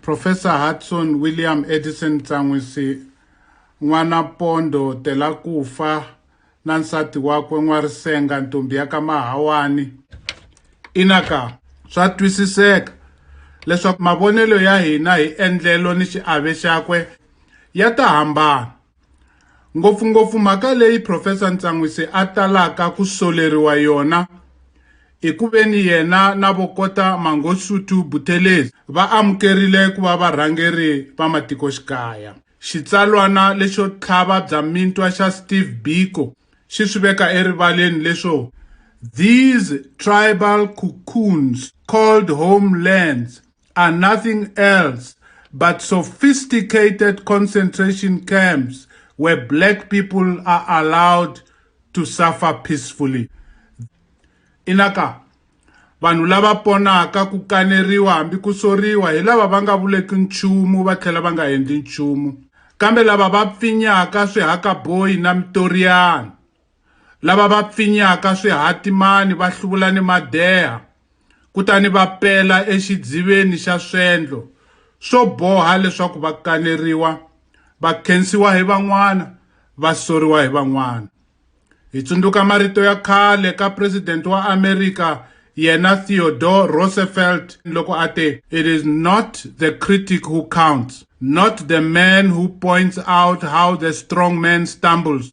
Profesa Hudson William Edison Tsan'wisi, n'wana Pondo Telakufa na nsati wakwe N'warisenga ntombi ya ka Mahawani. Ina ka, swa twisiseka leswaku mavonelo ya hina hi endlelo ni xiave xakwe ya ta hambana. Ngopfungopfu mhaka leyi Profesa Ntsan'wisi a talaka ku soleriwa yona i ku veni yena na vokota Mangosuthu Buthelezi va amukerile ku va varhangeri va matikoxikaya. Xitsalwana lexo tlhava bya mintwa xa Steve Biko xi swi veka erivaleni leswo These tribal cocoons called homelands are nothing else but sophisticated concentration camps where black people are allowed to suffer peacefully. Inaka, vanhu lava ponaka ku kaneriwa hambi ku soriwa hi lava va nga vuleki nchumu va tlhela va nga endli nchumu kambe lava va pfinyaka swihakaboyi na mitoriyana lava va pfinyaka swihatimani va hluvula ni madeha kutani va pela exidziveni xa swendlo swo boha leswaku va kaneriwa va khensiwa hi van'wana va soriwa hi van'wana hi tsundzuka marito ya khale ka president wa America yena Theodore Roosevelt loko a te it is not the critic who counts not the man who points out how the strong man stumbles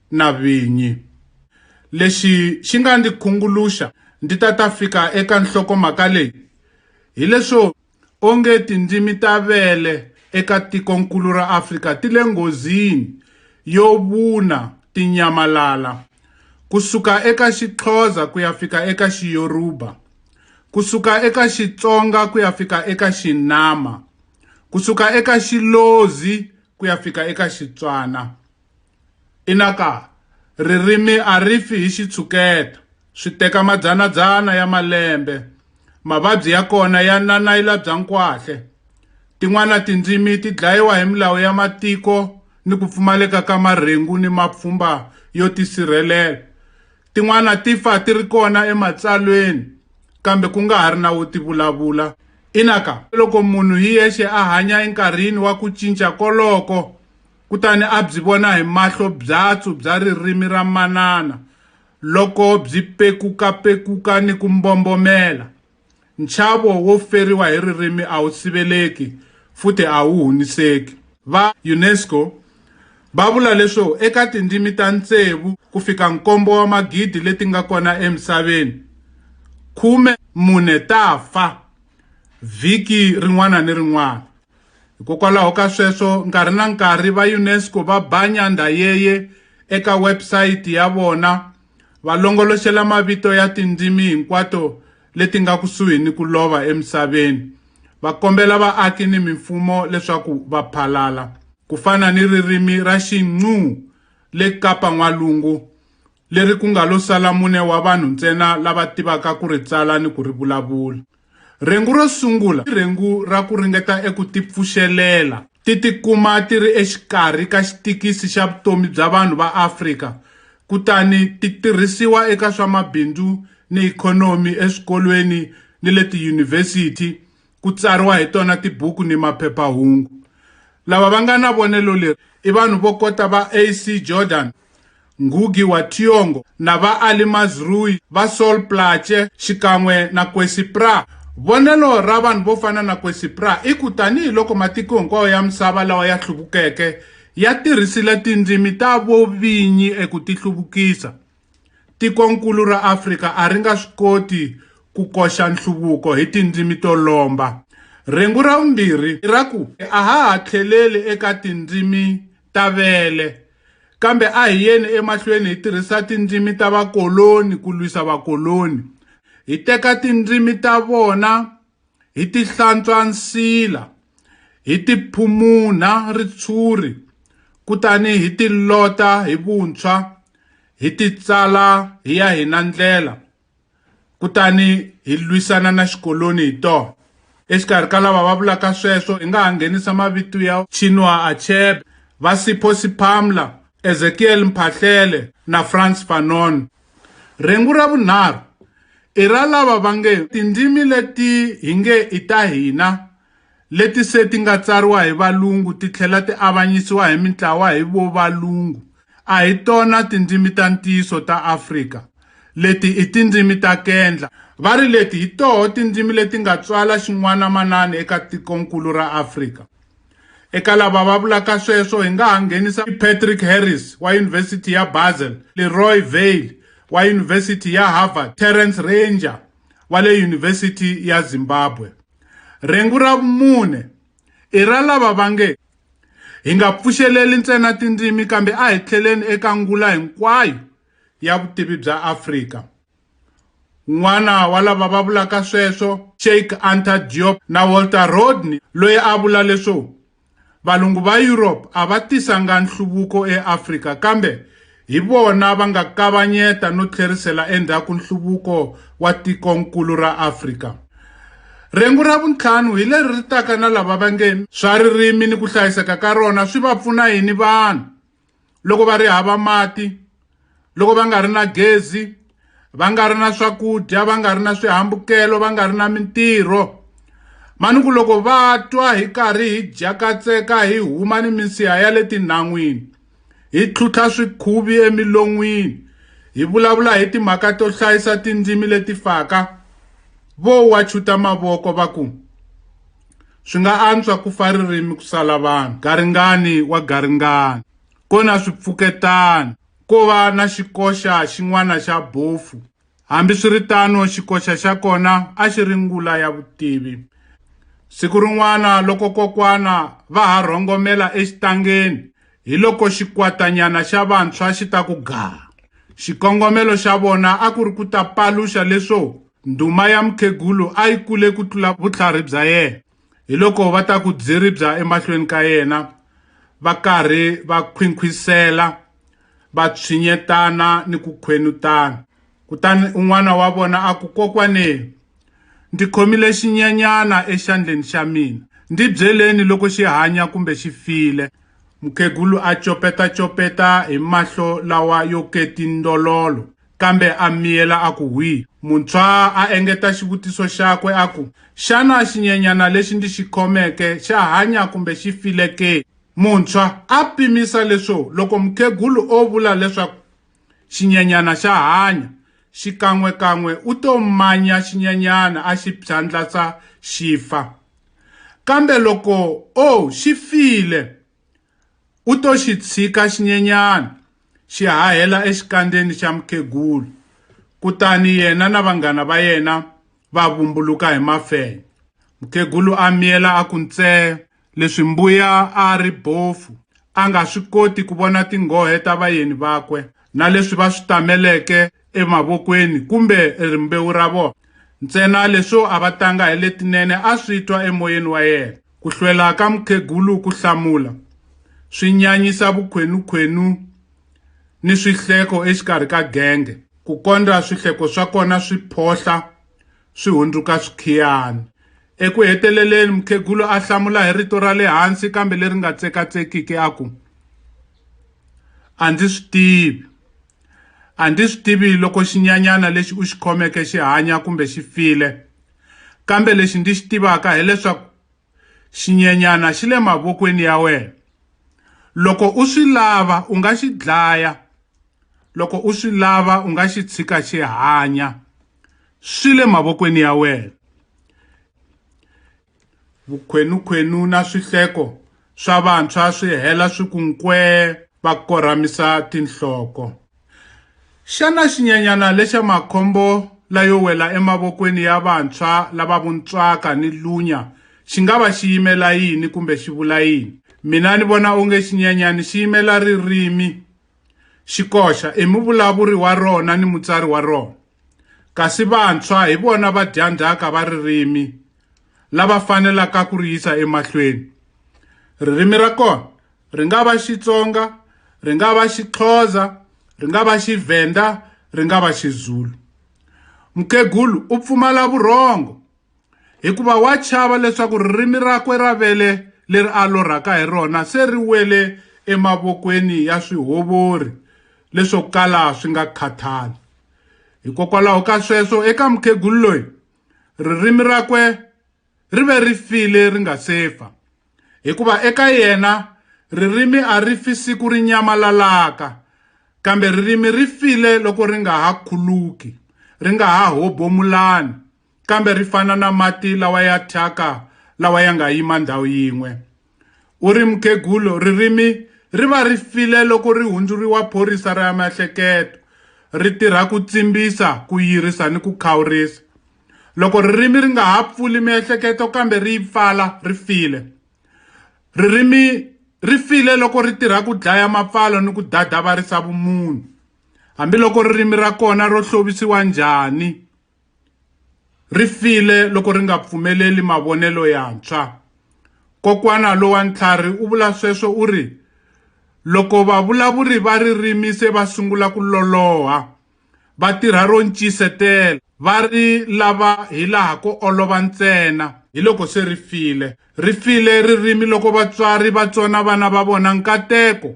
na vinyi. Lexi xi nga ndzi khunguluxa ndzi ta ta fika eka nhlokomhaka leyi hileswo onge tindzimi ta vele eka tikonkulu ra Afrika ti le nghozini yo vuna ti nyamalala ku suka eka Xixhosa ku ya fika eka Xiyoruba ku suka eka Xitsonga ku ya fika eka Xinama ku suka eka Xilozi ku ya fika eka Xitswana. Inaka, ririmi a ri fi hi xitshuketa, swi teka madzana-dzana ya malembe, mavabyi ya kona ya nanayila bya nkwahle. Tin'wana tindzimi ti dlayiwa hi milawu ya matiko ni ku pfumaleka ka marhengu ni mapfhumba yo tisirhelela. Tin'wana ti fa ti ri kona eMatsalweni kambe ku nga ha ri na wo ti vulavula. Inaka, loko munhu hi yexe a hanya enkarhini wa ku cinca koloko, kutani a byi vona hi mahlo byatsu bya ririmi ra manana loko byi pekuka-pekuka ni ku mbombomela. Nchavo wo feriwa hi ririmi a wu siveleki futhi a wu huniseki. Va UNESCO va vula leswo eka tindzimi ta ntsevu ku fika nkombo wa magidi leti nga kona emisaveni, khume mune ta fa vhiki rin'wana ni rin'wana. Hikokwalaho ka sweswo, nkarhi na nkarhi va UNESCO va ba nyandha yeye eka website ya vona va longoloxela mavito ya tindzimi hinkwato leti nga kusuhi ni ku lova emisaveni, va kombela vaaki ni mimfumo leswaku va phalala, ku fana ni ririmi ra Xinqu le Kapa N'walungu, leri ku nga lo sala mune wa vanhu ntsena lava tivaka ku ri tsala ni ku ri vulavula. Rhengu ro sungula i rhengu ra ku ringeta eku tipfuxelela, ti tikuma ti ri exikarhi ka xitikisi xa vutomi bya vanhu va Afrika kutani ti tirhisiwa eka swa mabindzu ni ikhonomi eswikolweni ni le tiyunivhesiti, ku tsariwa hi tona tibuku ni maphepha-hungu. Lava va nga na vonelo leri i vanhu vo kota va AC Jordan, Ngugi wa Thiong'o na va Alimaz Rui, va Sol Plaatje xikan'we na Kwesi Pra. Vonelo ra vanhu vo fana na Kwesi Pra i ku tanihi loko matiko hinkwawo ya misava lawa ya hluvukeke ya tirhisile tindzimi ta vo vinyi eku tihluvukisa, tiko-nkulu ra Afrika a ri nga swi koti ku koxa nhluvuko hi tindzimi to lomba. Rhengu ra vumbirhi i ra ku a ha ha tlheleli eka tindzimi ta vele, kambe a hi yeni emahlweni hi tirhisa tindzimi ta vakoloni ku lwisa vakoloni. Hi teka tindzimi ta vona hi ti hlantswa nsila, hi ti phumunha ritshuri, kutani hi ti lota hi vuntshwa, hi ti tsala hi ya hina ndlela. kutani hi lwisana na xikoloni hi tona exikarhi ka lava va vulaka sweswo hi nga ha nghenisa mavito ya chinua achebe va sipho siphamla ezekiel mphahlele na france fanon rhengu ra vunharhu i ra lava va nge tindzimi leti hi nge i ta hina leti se ti nga tsariwa hi Valungu ti tlhela ti avanyisiwa hi mintlawa hi Vovalungu, a hi tona tindzimi ta ntiyiso ta Afrika. Leti i tindzimi ta kendla. Va ri leti hi toho tindzimi leti nga tswala xin'wana-manani eka tikonkulu ra Afrika. Eka lava va vulaka sweswo hi nga ha nghenisa Patrick Harris wa Yunivhesiti ya Basel, Leroy Veil wa Yunivhesiti ya Harvard, Terrence Ranger wa le Yunivhesiti ya Zimbabwe. Rhengu ra vumune i ra lava va nge, hi nga pfuxeleli ntsena tindzimi kambe a hi tlheleni eka ngula hinkwayo ya vutivi bya Afrika. Un'wana wa lava va vulaka sweswo, Cheikh Anta Diop na Walter Rodney loyi a vula leswo Valungu va Europe a va tisanga nhluvuko eAfrika kambe hi vona va nga kavanyeta no tlherisela endzhaku nhluvuko wa tikonkulu ra Afrika. Rhengu ra vuntlhanu hi leri ri taka na lava va nge swa ririmi ni ku hlayiseka ka rona swi va pfuna yini vanhu. loko va ri hava mati loko va nga ri na gezi va nga ri na swakudya va nga ri na swihambukelo va nga ri na mintirho mani ku loko va twa hi karhi hi dya katseka hi huma ni minsiha ya le tinhan'wini hi tlhutlha swikhuvi emilon'wini hi vulavula hi timhaka to hlayisa tindzimi leti faka vo wa chuta mavoko va ku Swi nga antswa ku fa ririmi ku sala vanhu, garingani wa garingani, ko na swipfuketana, ko va na xikoxa xin'wana xa bofu. Hambi swi ri tano, xikoxa xa kona a xi ri ngula ya vutivi. Siku rin'wana loko kokwana va ha rhongomela exitangeni, hi loko xikwatanyana xa vantshwa xi ta ku gaha. Xikongomelo xa vona a ku ri ku ta paluxa leswo Ndhuma ya mukhegulu a yi kule ku tlula vutlhari bya yena. Hiloko va ta ku dziribya emahlweni ka yena, va karhi va khwinkhwisela, va tshinyetana ni ku khwenutana. Kutani un'wana wa vona a ku, Kokwane, ndzi khomile xinyanyana exandleni xa mina. Ndzi byeleni loko xi hanya kumbe xi file. Mukhegulu a copeta-copeta hi mahlo lawa yo ketindololo, Kambe a miyela a ku hwii. Muntshwaa a engeta xivutiso xakwe a ku, Xana xinyenyana lexi ndzi xi khomeke xa hanya kumbe xi file ke? Muntshwa a pimisa leswo loko mukhegulu o vula leswaku xinyenyana xa hanya, xikan'we-kan'we u to manya xinyenyana a xi phyandlatsa xi fa. Kambe loko o xi file! U to xi tshika xinyenyana xi hahela exikandzeni xa mukhegulu, kutani yena na vanghana va yena va vumbuluka hi mafenya. Mukhegulu a miyela a ku ntsee leswi Mbuya a a ri bofu a nga swi koti ku vona tinghohe ta vayeni vakwe na leswi va swi tameleke emavokweni kumbe rimbewu ra vona, ntsena leswo a va tanga hi letinene a swi twa emoyeni wa yena. Ku hlwela ka mukhegulu ku hlamula swi nyanyisa vukhwenukhwenu ni swihleko exikarhi ka genge, ku kondza swihleko swa kona swi phohla swi hundzuka swikhiyani. Eku heteleleni, mukhegulu a hlamula hi rito ra le hansi kambe leri nga tsekatsekiki a ku, A ndzi swi tivi. A ndzi swi tivi loko xinyanyana lexi u xi khomeke xi hanya kumbe xi file. kambe lexi ndzi xi tivaka hileswaku xinyenyana xi le mavokweni ya wena loko u swi lava u nga xi dlaya loko u swi lava u nga xi tshika xi hanya swi le mavokweni ya wena vukhwenukhwenu na swihleko swa vantshwa swi hela swi ku nkwee va korhamisa tinhloko. Xana xinyanyana lexa makhombo layo wela emavokweni ya vantshwa lava vuntswaka ni lunya xi nga va xi yimela yini kumbe xi vula yini? Mina ni vona onge xinyanyani xi yimela ririmi, xi koxa, i muvulavuri wa rona ni mutsari wa rona. Kasi vantshwa hi vona vadyandzhaka va ririmi lava fanelaka ku ri yisa emahlweni. Ririmi ra kona ri nga va Xitsonga, ri nga va Xixhosa, ri nga va Xivhenda, ri nga va Xizulu. Mukhegulu u pfumala vurhongo. hikuva wa chava leswaku ririmi rakwe ra vele leri a lorhaka hi rona se ri wele emavokweni ya swihovori leswo kala swi nga khathali hikokwalaho ka sweswo eka mukhegulu loyi ririmi rakwe ri ve ri file ri nga se fa hikuva eka yena ririmi a ri fi siku ri nyamalalaka kambe ririmi ri file loko ri nga ha khuluki ri nga ha hobomulani kambe ri fana na mati lawa ya thyaka lawa ya nga yima ndhawu yin'we. U ri mukhegulu ririmi ri va ri file loko ri hundzuriwa phorisa ra miehleketo, ri tirha ku tsimbisa, ku yirisa ni ku khawurisa. Loko ririmi ri nga ha pfuli miehleketo kambe ri yi pfala, ri file. Ririmi ri file loko ri tirha ku dlaya mapfalo ni ku dadavarisa vumunhu. Hambiloko ririmi ra kona ro hlovisiwa njhani, ri file loko ri nga pfumeleli mavonelo yantshwa. Kokwana lowa ntlhari u vula sweswo u ri, Loko vavulavuri va ririmi se va sungula ku loloha, va tirha ro ncisetela, va ri lava hilaha ko olova ntsena, hiloko se ri file. Ri file ririmi loko vatswari va tsona vana va vona nkateko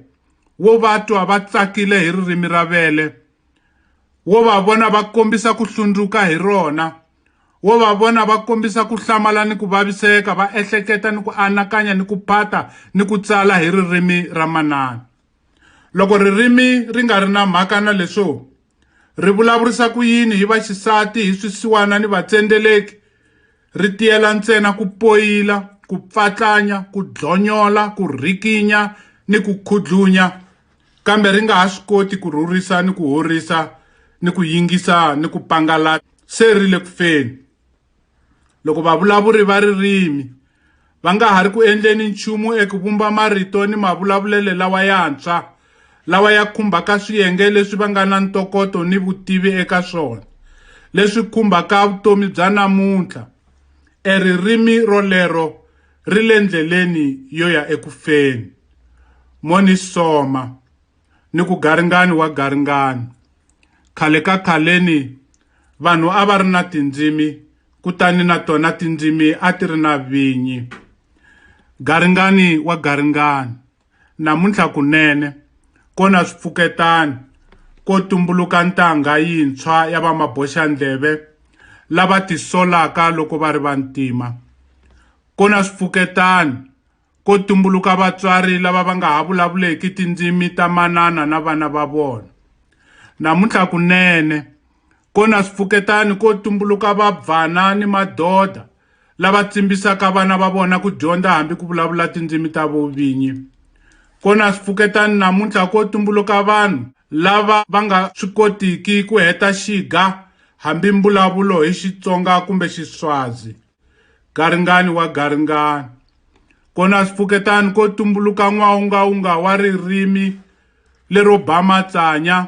wo va twa va tsakile hi ririmi ra vele. wo va vona va kombisa ku hlundzuka hi rona, wo va vona va kombisa ku hlamala ni ku vaviseka, va ehleketa ni ku anakanya ni ku phata ni ku tsala hi ririmi ra manana. Loko ririmi ri nga ri na mhaka na leswo ri vulavurisa ku yini hi vaxisati, hi swisiwana ni vatsendeleki, ri tiyela ntsena ku poyila, ku pfatlanya, ku dlonyola, ku rhikinya ni ku khudlunya kambe ri nga ha swi koti ku rhurisa ni ku horisa ni ku yingisa ni ku pangalata se ri le ku feni loko vavulavuri va ririmi va nga ha ri ku endleni nchumu eku vumba marito ni mavulavulelo lawa yantshwa lawa ya khumbaka swiyenge leswi va nga na ntokoto ni vutivi eka swona leswi khumbaka vutomi bya namuntlha eririmi rolero ri le ndleleni yo ya eku feni. Monisoma ni ku garingani wa garingani. Khale ka khaleni, vanhu a va ri na tindzimi kutani na tona tindzimi a ti ri na vinyi. Garingani wa garingani. Namuntlha kunene, ko na swipfuketana, ko tumbuluka ntangha yintshwa ya vamaboxandleve lava tisolaka loko va ri vantima. Ko na swipfuketana, ko tumbuluka vatswari lava va nga ha vulavuleki tindzimi ta manana na vana va vona. Namuntlha kunene, ko na swipfuketana, ko tumbuluka vabvana ni madoda lava tsimbisaka vana va vona ku dyondza hambi ku vulavula tindzimi ta vo vinyi. Kona swipfuketani namuntlha ko tumbuluka vanhu lava va nga swi kotiki ku heta xiga hambi mbulavulo hi Xitsonga kumbe Xiswazi. Garingani wa garingani. Kona swipfuketani ko tumbuluka n'waungaunga wa ririmi lero ba matsanya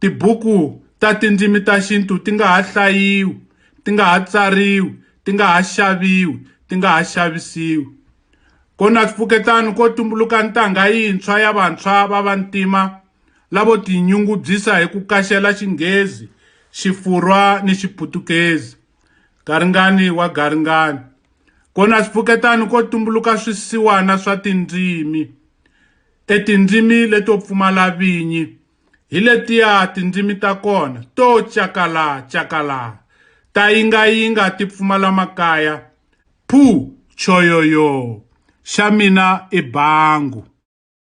Tibuku ta tindzimi ta xintu ti nga ha hlayiwi, ti nga ha tsariwi, ti nga ha xaviwi, ti nga ha xavisiwi. Ko na swipfuketana ko tumbuluka ntangha yintshwa ya vantshwa va vantima lavo tinyungubyisa hi ku kaxela Xinghezi, Xifurwa ni Xiputukezi. Garingani wa garingani. Ko na swipfuketana ko tumbuluka swisiwana swa tindzimi. E tindzimi leto pfumala vinyi hi letiya tindzimi ta kona to cakala cakala ta yingayinga ti pfumala makaya phu choyoyo xa mina i bangu.